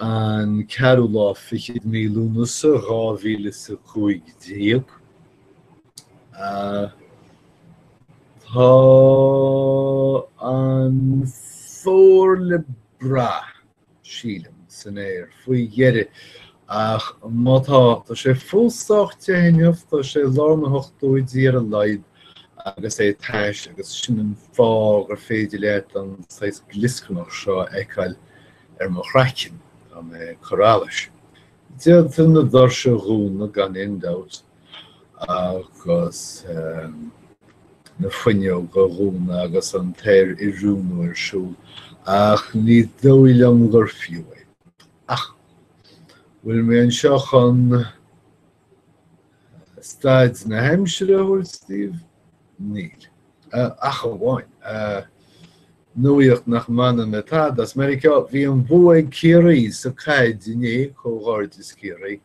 an ceathrú lá fichead de mhí Lúnasa dhá mhíle is a cúig déag. Tá an fómhar le brath, sílim, san aer faoi dheireadh, ach má tá, tá sé fós sách te inniu, tá sé i lár na hochtóidí ar a laghad agus é tais agus sin an fáth gur féidir leat an saghas glioscarnach seo a fheiceáil ar mo chraiceann, tá mé ag cur allais. D'fhéadfainn na doirse a dhúnadh, gan aon dabht, agus na fuinneoga a dhúnadh agus an t-aeroiriúnú ar siúl, ach ní dóigh liom gur fiú é. Ach bhfuil mé anseo chun staid na haimsire a thabhairt daoibh? Níl. Ach amháin nuaíocht nach mbaineann le tada, as Meiriceá, bhí an bua ag Ciarraí sa caid inné, comhghairdeas Ciarraí,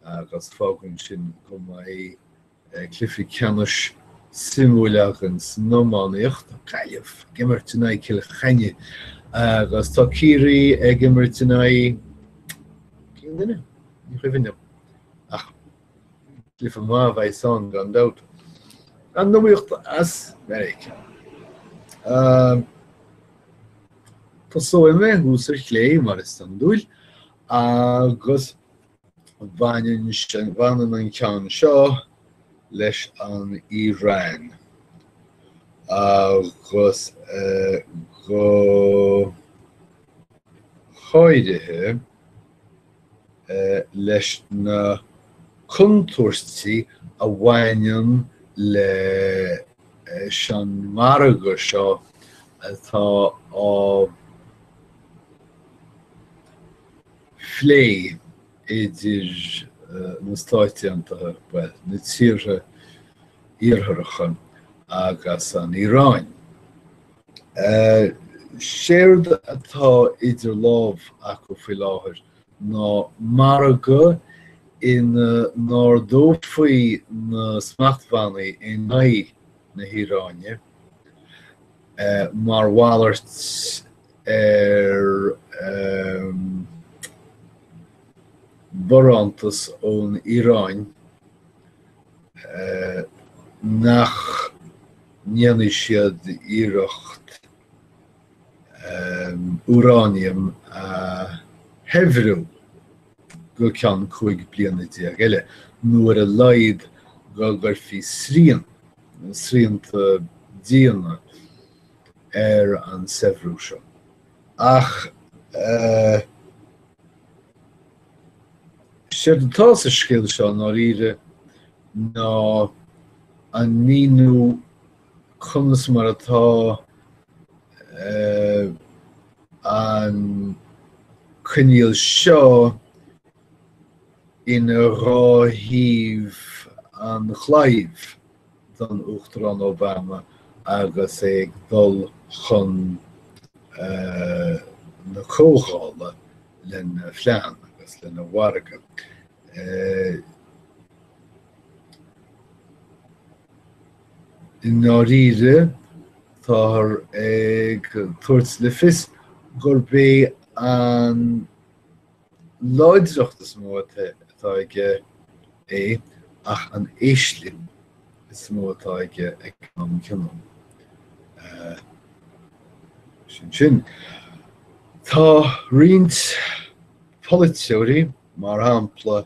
agus fágann sin go mbeidh cluiche ceannais suimiúil againn san iománaíocht, tá Gaillimh ag imirt in aghaidh Cill Chainnigh agus tá Ciarraí ag imirt in aghaidh cén duine? Ní chuimhin liom. Ach cluiche maith a bheidh ann gan dabht. An nuaíocht as Meiriceá. Tosóidh mé thuas ar chlé mar is iondúil agus Baineann an ceann seo leis an Iaráin, agus go háirithe leis na contúirtí a bhaineann leis an margadh seo atá á phlé idir na Stáit Aontaithe, bhuel, na tíortha Iartharacha agus an Iaráin. Séard atá idir lámh acu faoi láthair ná margadh ina n-ardófaí na smachtbhannaí in aghaidh na hIaráine mar mhalairt ar bharántas ón Iaráin nach ndéanfadh siad iarracht úráiniam a shaibhriú go ceann 15 bliana eile, nó ar a laghad go gcuirfí srian, srianta diana, ar an saibhriú seo, ach séard atá sa scéal seo i ndáiríre ná an míniú conas mar atá an coinníoll seo ina dhá thaobh an chlaímh. don Uachtarán Obama agus é ag dul chun na Comhdhála lena phlean agus lena mhargadh. I ndáiríre, táthar ag tabhairt le fios gurb é an. láidreacht is mó atá aige é an éislinn is mó atá aige ag an am céanna. Sin sin. Tá roinnt polaiteoirí, mar shampla,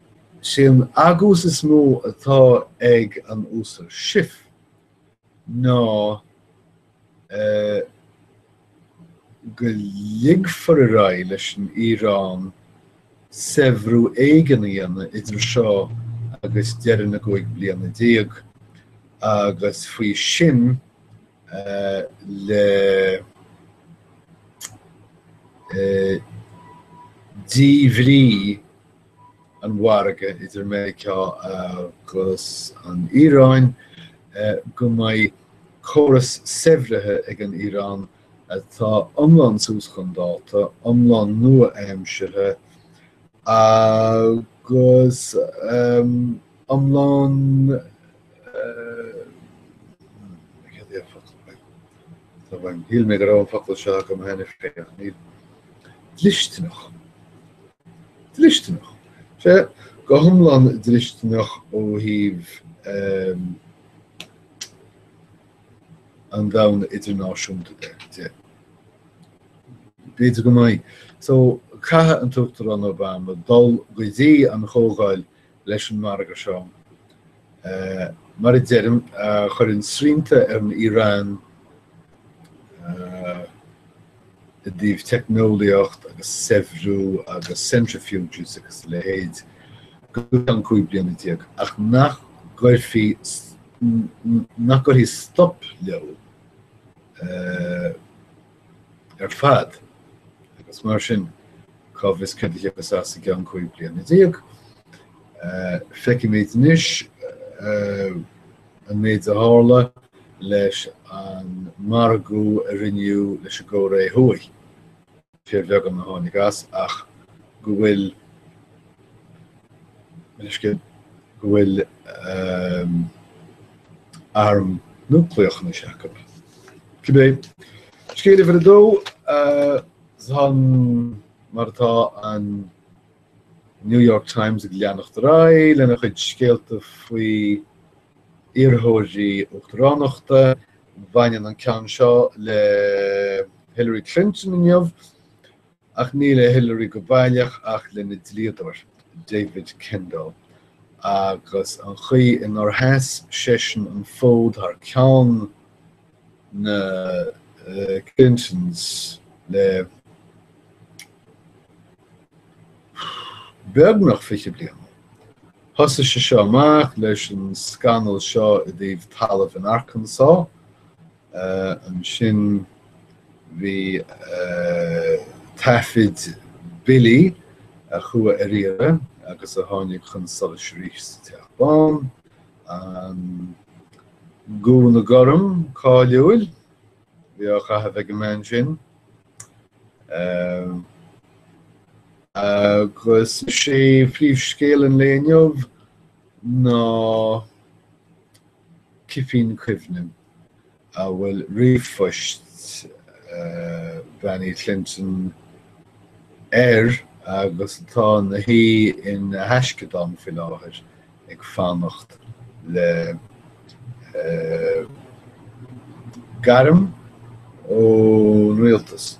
Is é an t-agús is mó atá ag an Uasal Schiff ná go ligfear ar aghaidh leis an Iaráin saibhriú éigin a dhéanamh idir seo agus deireadh na gcúig bliana déag agus faoi sin le díbhrí an mhargaidh idir Meiriceá agus an Iaráin, go mbeidh córas saibhrithe ag an Iaráin atá iomlán suas chun dáta, iomlán nua-aimseartha agus iomlán dlisteanach. dlisteanach. Sea, go hiomlán dlisteanach ó thaobh an domhain idirnáisiúnta de. B'fhéidir go mbeidh. So, caithfidh an tUachtarán Obama dul go dtí an Chomhdháil leis an margadh seo. Mar a deirim, chuireann srianta ar an Iaráin i dtaobh teicneolaíocht agus saibhriú agus centrifuges agus a leithéid go ceann 15 bliana, ach nach gcuirfí, nach gcuirfidh stop leo. ar fad agus mar sin cá bhfios cad a thiocfas as i gceann 15 bliana. Feicimid anois an méid a tharla leis an margadh a rinneadh leis an gCóiré Thuaidh, fíorbheagán a tháinig as, ach go bhfuil. Meastar go bhfuil arm núicléach anois acu. Cibé scéal uimhir a dó, sin mar atá an New York Times ag leanacht ar aghaidh lena chuid scéalta faoi iarrthóirí uachtaránachta, baineann an ceann seo le Hillary Clinton inniu, Ach ní le Hillary go baileach ach lena dlíodóir, David Kendall, agus an chaoi inar sheas seisean an fód thar ceann na Clintons le beagnach fiche bliana. Thosaigh sé seo amach leis an scannal seo i dtaobh talamh in Arkansas Ansin bhí taifid billí a chuaigh ar iarraidh agus a tháinig chun solais arís sa Teach Bán, an gúna gorm cáiliúil a bhí á chaitheamh ag an mbean sin, agus is é príomhscéal an lae inniu ná cipín cuimhne. a bhfuil ríomhphoist Bean Uí Clinton air agus atá ina shuí ina thaisceadán faoi láthair ag fanacht le gairm ón rialtas.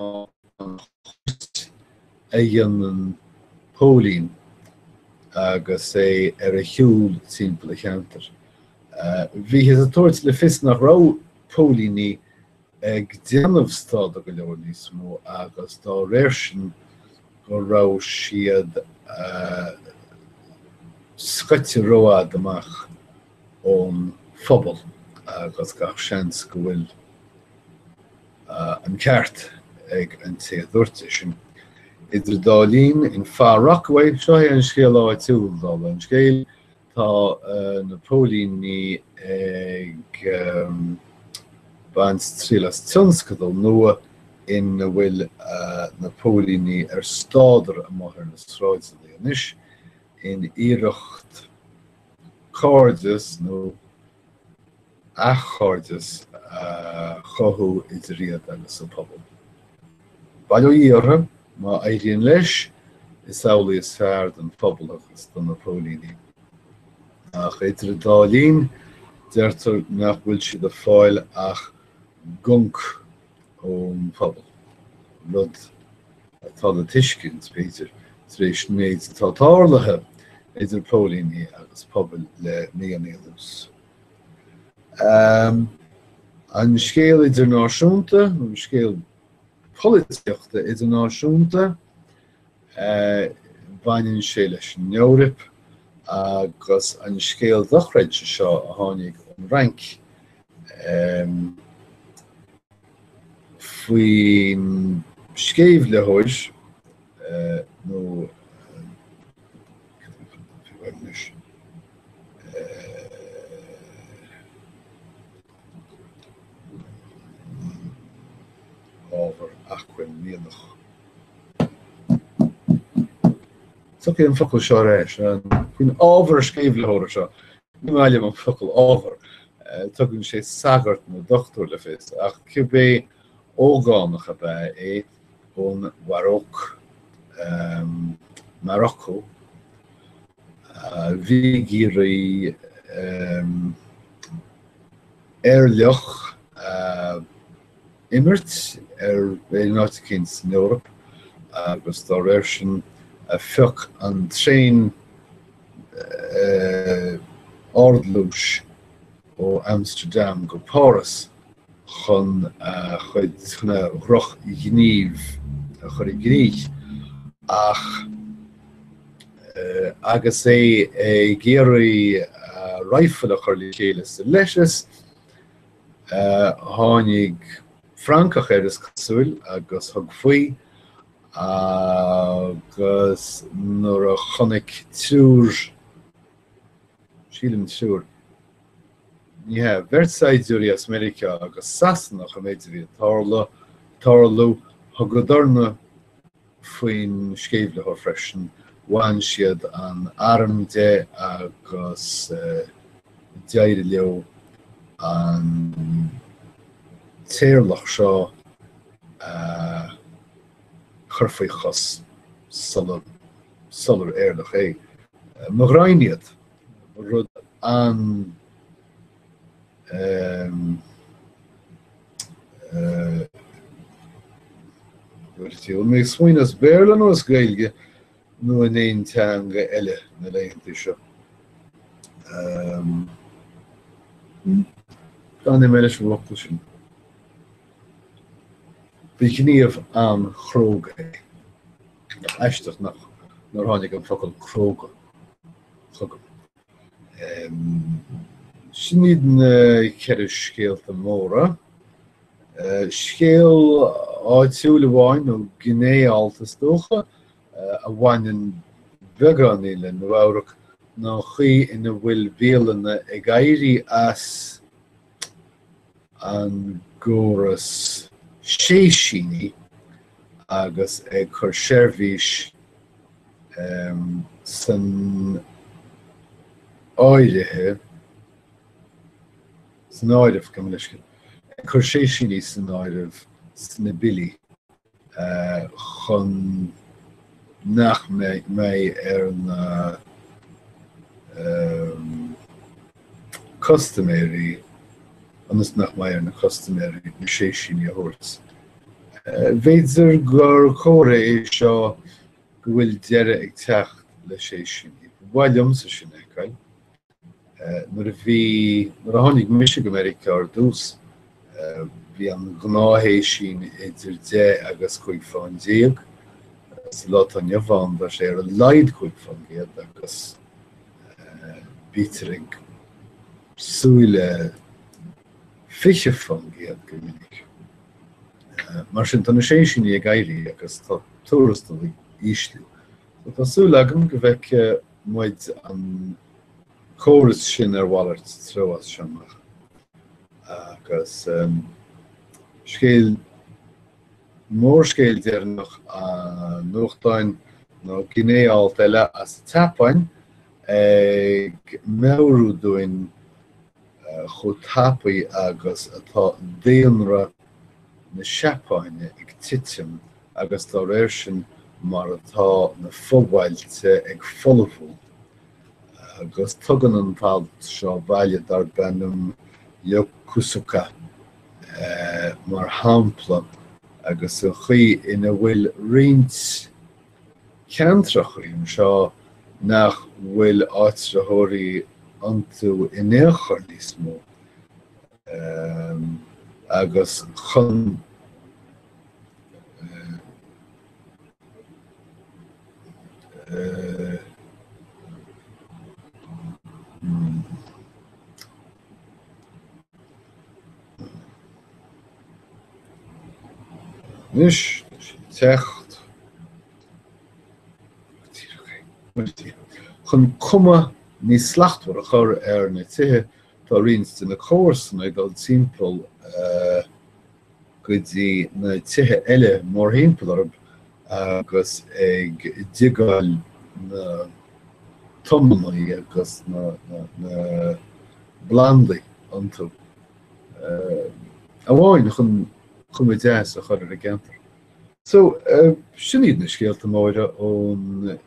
ná an chuairt a dhéanann póilín agus é ar a shiúl timpeall a cheantair. Bhíothas ag tabhairt le fios nach raibh póilíní ag déanamh stádar go leor níos mó agus dá réir sin go raibh siad scoite rófhada amach ón phobal agus gach seans go bhfuil an ceart ag an té a dúirt é sin. Idir dá linn, in Far Rockaway, seo é an scéal áitiúl, dála an scéil, tá na póilíní ag baint triail as tionscadal nua ina bhfuil na póilíní ar stádar amuigh ar na sráideanna anois, in iarracht cairdeas nó. athchairdeas a chothú idir iad agus an pobal. Bail ó Dhia orthu, má éiríonn leis, is amhlaidh is fearr don phobal agus do na póilíní. Ach idir an dá linn, deirtear nach bhfuil siad ag fáil ach gonc ón phobal, rud atá le tuiscint, b'fhéidir, tar éis an méid atá tarlaithe idir póilíní agus pobail le míonna anuas. Um an scéal idirnáisiúnta, an scéal polaitíochta idirnáisiúnta, uh baineann sé leis an Eoraip agus an scéal dochreidte seo a tháinig ón Fhrainc um faoin sceimhlitheoir uh nó ábhar, acmhainn, mianach. Tiocfaidh an focal seo ar ais faoin ábhar sceimhlitheora seo. Ní maith liom an focal ábhar. Tugann sé sagart nó dochtúir le fios, ach cibé ógánach ab ea é ón Mharóc, Marocco, Bhí ag iarraidh éirleach a imirt ar aon áit éicin san Eoraip agus dá réir sin phioc an traein ardluais ó Amsterdam go Páras chun a chuid drochghníomh a chur i ngníomh ach agus é ag iarraidh rifle a chur le chéile sa leithreas, tháinig Francach air, is cosúil, agus thug faoi, agus nuair a chonaic triúr Sílim, triúr, ní hea, bheirt saighdiúirí as Meiriceá agus Sasanach an méid a bhí ag tarla, tarlú, thugadarsan faoin sceimhlitheoir freisin, bhain siad an arm de agus d'éirigh leo an t-éirleach seo a chur faoi chos sula sular éirleach é. Mo ghraidhin iad. Ba rud an-, bhí mé ag smaoineamh, as Béarla nó as Gaeilge nó in aon teanga eile na laethanta seo. D'fhan mé leis an bhfocal sin. Ba ghníomh an-chróga é. Nach aisteach nach nár tháinig an focal cróga chugam. Sin iad na ceithre scéalta móra. Scéal áitiúil amháin, nó gné-alt is dócha, a bhaineann beagáinín le Nua Eabhrac ná an chaoi ina bhfuil bialanna ag éirí as an gcóras séisíní agus ag cur seirbhís um san áirithe san áireamh, gabh mo leithscéal, ag cur séisíní san áireamh sna billí. chun nach mbeidh ar na custaiméirí ionas nach mbeidh ar na custaiméirí na séisíní a thabhairt. B'fhéidir gur comhartha é seo go bhfuil deireadh ag teacht le séisíní. Ba mhaith liomsa sin a fheiceáil. Nuair a bhí, nuair a tháinig mise go Meiriceá ar dtús, bhí an ghnáthshéisín idir deich agus cúig fán déag, sa lá atá inniu ann tá sé ar a laghad cúig fán gcéad agus bítear ag súil le fiche fán gcéad go minic. Mar sin tá na séisíní ag éirí agus tá tuarastail ag ísliú. Tá súil agam go bhfeicfidh muid an córas sin ar mhalairt treo as seo amach, agus scéal mór, scéal deireanach an nuachtáin, nó gné-alt eile as an tSeapáin, ag meabhrú dúinn chomh tapaidh agus atá daonra na Seapáine ag titim agus dá réir sin mar atá na fobhailte ag folmhú, agus tugann an t-alt seo baile darb ainm Yokosuka mar shampla agus an chaoi ina bhfuil roinnt ceantracha ann anseo nach bhfuil áitritheoirí iontu in aon chor níos mó agus chun Níos deacht, chun cuma níos slachtmhar a chur ar na tithe, tá roinnt de na comharsana ag dul timpeall go dtí na tithe eile mórthimpeall orthu, agus ag diogáil na dtomannaí agus na bplandaí iontu amháin chun cuma deas a chur ar an gceantar. So, sin iad na scéalta móire ón,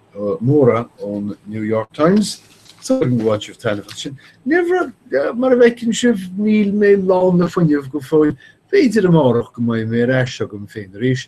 móra ón New York Times. So, ar bhain sibh taitneamh as sin? Ní mar, mar a fheiceann sibh, níl mé lán le fuinnimh go fóill. B'fhéidir amárach go mbeidh mé ar ais agam féin arís.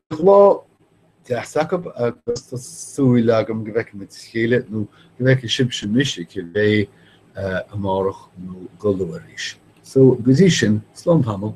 Bíodh lá deas agaibh agus tá súil agam go bhfeicfidh muid a chéile, nó go bhfeicfidh sibhse mise, cibé, amárach nó go luath arís. So, go dtí sin, slán tamall.